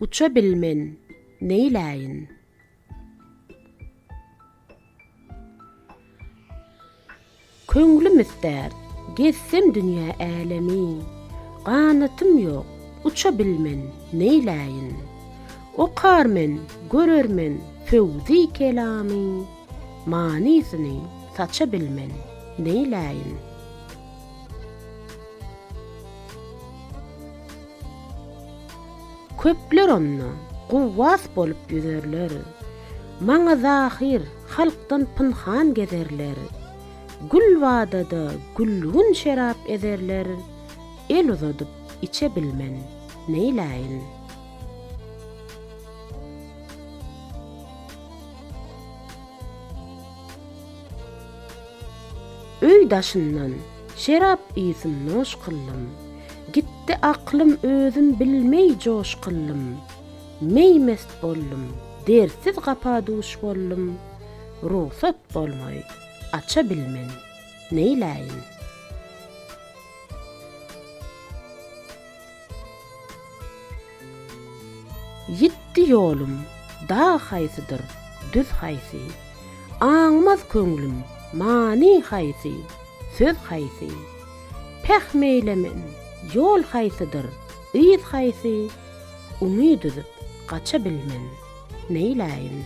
Uça bilmen, neýläýin? Köňlüm islär, gezsem dünýä älemi, Ganatym ýok, uça bilmen, neýläýin? Okar men, görer men, föwzi-kelamy. Manysyny saça bilmen, neýläýin? Köpler onda guwwas bolup ýüzerler, Maňa zahyr, halkdan pynhan gezerler. Gülbada-da gülgün şerap ezerler, El uzadyp içe bilmen, neýläýin? Öý daşyndan şerap ysyn noş kyllym, Gitdi aklym özüm bilmeý joş kyllym, Meý-mest boldum, dertsiz gapa duş boldum, Rugsat bolmaý, aça bilmen, neýläýin? Ýitdi ýolum, dag haýsydyr, düz haýsy? Aňmaz köňlüm, many haýsy, söz haýsy? Pähm eýlemen, ýol haýsydyr, yz haýsy? Umyt üzüp, gaça bilmen, neýläýin?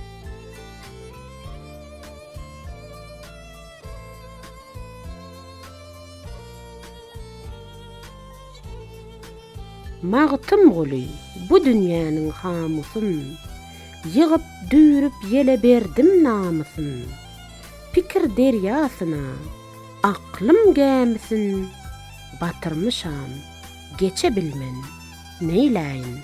Magtymguly, bu dünýäniň hamusyn, Ýygyp, düýrüp ýele berdim namysyn. Pikir derýasyna aklym gämisin batyrmyşam, Geçe bilmen, neýläýin?